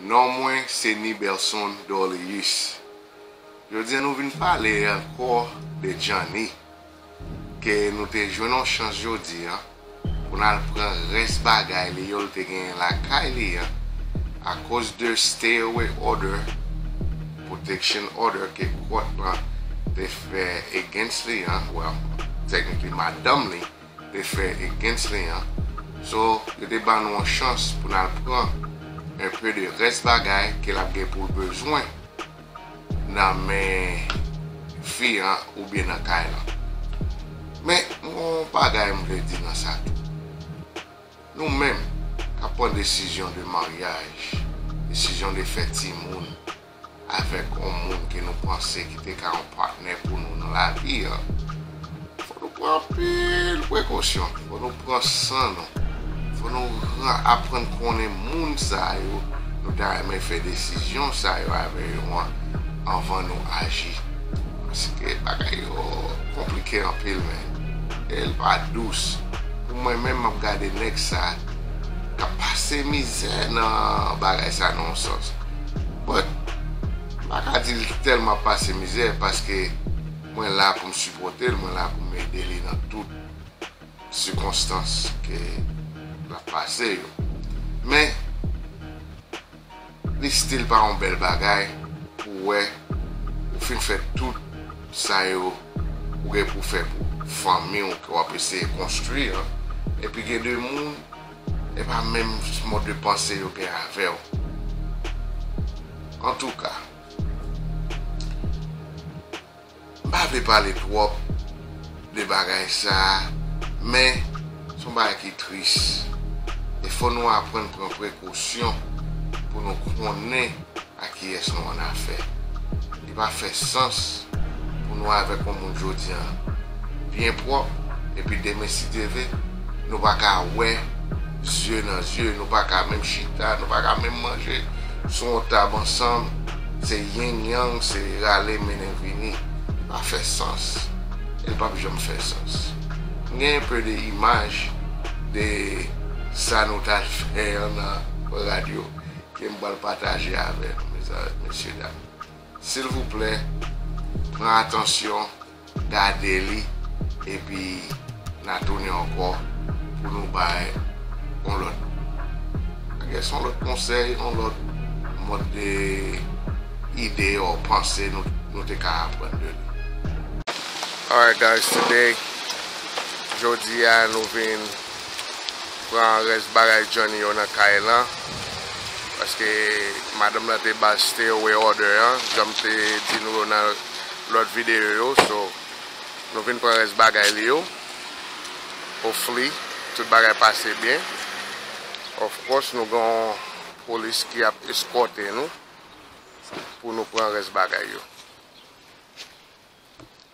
Non mwen se Niberson Dorleus. Jodi an nou vin pale ankò de Djanni ke nou te jwenn yon chans jodi an pou n al pran rès bagay li yo l te genyen lakay li an akoz de stay away order, protection order, ke kòt lan te fè against li an, well technically madanm li. te fè against li an so yo te ban nou yon chans pou nal pran un peu de rès bagay ke lap gen poul bezwen nan men fi an oubyen nan kay lan men m gen yon bagay m vle di nan sa tou nou menm kap pran desizyon de maryaj desizyon de fè timoun avèk yon moun ke nou panse ki te ka yon patnè pou nou nan lavi a, fò nou pran anpil prekosyon, fò nou pran san nou, fò nou aprann konnen moun sa yo nou ta renmen fè desizyon sa yo avè yo an anvan nou aji. Paske bagay yo konplike anpil men, e l pa dous. Pou mwen menm m ap gade nèg sa k ap pase mizè nan bagay sa nan yon sans. But m pa ka di l tèlman pase mizè paske mwen la pou m sipòte l, mwen la pou m ede li nan tout sikonstans ke l ap pase yo. Men li stil pa yon bèl bagay pou w wè ou fin fè tout sa yo ou gen pou w fè pou fanmi w ke w ap eseye konstwi an epi gen de moun Epa menm mòd de panse yo gen avèw antouka m pa vle pale twòp de bagay sa men son bagay ki tris e fò nou aprann pran prekosyon pou nou konnen A kiyès nou an afè? Li pa fè sans pou nou avèk yon moun jodi an byen pwòp epi demen si Dye ve nou pa ka wè zye nan zye, nou pa ka menm chita, nou pa ka menm manje sou yon tab ansanm, se ying yang, se rale mennen vini. Li pa fè sans e li pap janm fè sans. M gen yon peu de imaj de sa nou t al fè an nan radyo ke m pral pataje avè nou mesye dam silvouplè pran atansyon gade li epi na tounen ankò pou nou bay yon lòt bagay son lòt konsèy yon lòt mòd de ide or panse nou te ka aprann de li. Alright guys today jodi a nou vin. Pran rès bagay Johnny yo nan kay lan paske madanm lan te bal stay away order an janm te di nou yo nan lòt video yo so nou vin pran rès bagay li yo hopefully tout bagay pase byen of course nou gen yon police ki ap escorte nou pou nou pran rès bagay yo.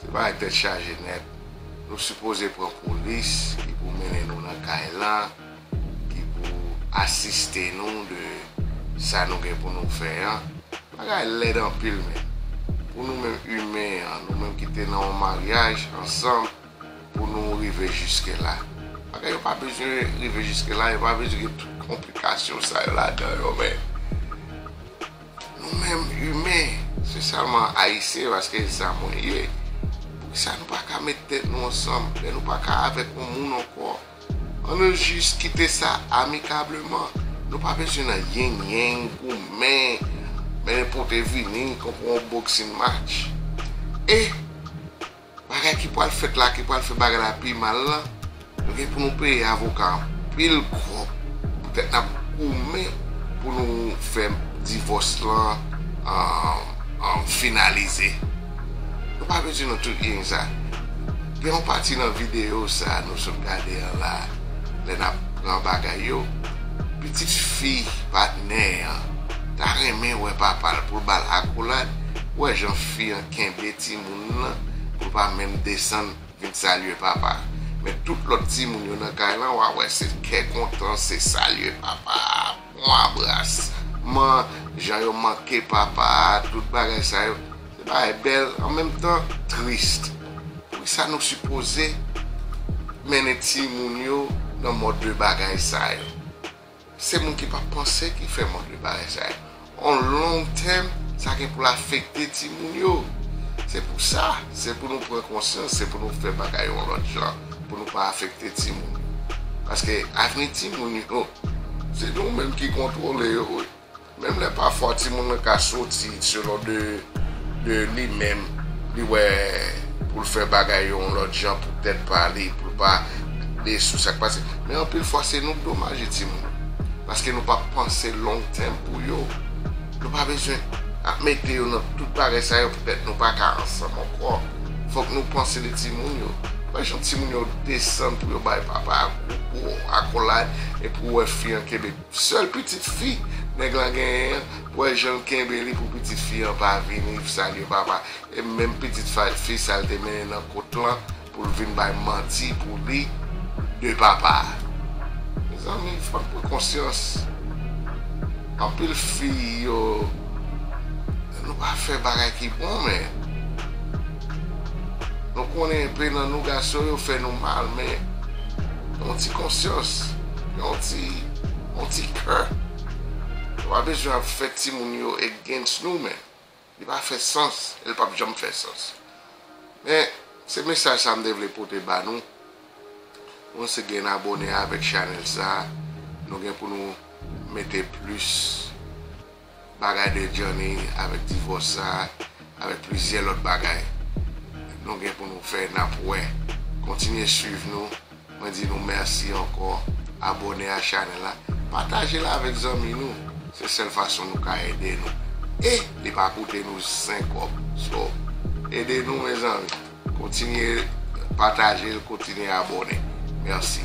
Se bagay tèt chaje nèt. Nou sipoze pran polis ki pou mennen nou nan kay lan, ki pou asiste nou de sa nou gen pou nou fè an. Bagay lèd anpil menn. Pou nou menm imen an, nou menm ki te nan yon maryaj ansanm. pou nou rive jiske la. Bagay yo pa bezwen rive jiske la, yo pa bezwen gen tout konplikasyon sa yo ladan yo men, nou menm imen, se sèlman Ayisyen paske se sa mwen ye, poukisa nou pa ka met tèt nou ansanm, lè nou pa ka avèk yon moun ankò, an nou jis kite sa amikableman, nou pa bezwen nan ying ying, goumen, mennen pote vini, konprann yon boxing match. E. Bagay ki pwal fèt la ki pwal fè bagay la pi mal la nou gen pou nou peye avoka anpil kòb poutèt nap goumen pou nou fè divòs lan finalize nou pa vle di nou tout gen sa gen yon pati nan videyo sa nou sot gade an la lè nap pran bagay yo pitit fi patnè an ta renmen wè papal poul bal akolad wè jan fi an kenbe timoun. moun nan pou pa menm desann vin salye papa men tout lòt timoun yo nan kay lan wa wè se kè kontan se salye papa pwan abras man jan yo manke papa tout bagay sa yo se bagay bèl an menm tan trist poukisa nou sipoze mennen timoun yo nan mòd de bagay sa yo. Se moun ki pa panse ki fè mange bagay sa yo. On long term, sa gen pou l afekte timoun yo. Se pou sa, se pou nou pran konsyans, se pou nou fè bagay yo yon lòt jan, pou nou pa afekte timoun yo. Paske avni timoun yo, se nou menm ki kontwole yo wi. Menm lè pafwa timoun nan ka soti selon de li menm li wè pou l fè bagay yo yon lòt jan pou tèt pa li, pou l pa de sou sa k pase. Men anpil fwa se nou k domaje timoun paske nou pa panse long tèm pou yo. Nou pa bezwen ap mete yo nan tout bagay sa yo poutèt nou pa ka ansanm ankò. Fòk nou panse de timoun yo. Wè jan timoun yo desann pou yo bay papa a gwo gwo akolad epi w wè fi an kenbe Sèl pitit fi nèg lan genyen an pou wè jan l kenbe li pou pitit fi an pa vini salye papa e menm pitit fi sa l te mennen nan kot lan pou l vin bay manti pou li de papa a mezanmi fò n pran konsyans anpil fi yo nou pa fè bagay ki bon men. Nou konnen enpe nan nou gason yo fè nou mal men yon ti konsyans, yon ti yon ti kè nou pa bezwen ap fè timoun yo against nou men li pa fè sans e li pap janm fè sans men se mesaj sa m te vle pote ba nou nou se gen abone avèk chanèl sa nou gen pou nou mete plis. bagay de Johnny avèk divòs sa avèk plizyè lòt bagay nou gen pou nou fè nap wè kontinye swiv nou mwen di nou mèsi ankò abòne a chanèl la patajel avèk zanmi nou se sèl fason nou ka ede nou e li pa koute nou zen kòb so ede nou mezanmi kontinye patajel kontinye abòne mèsi.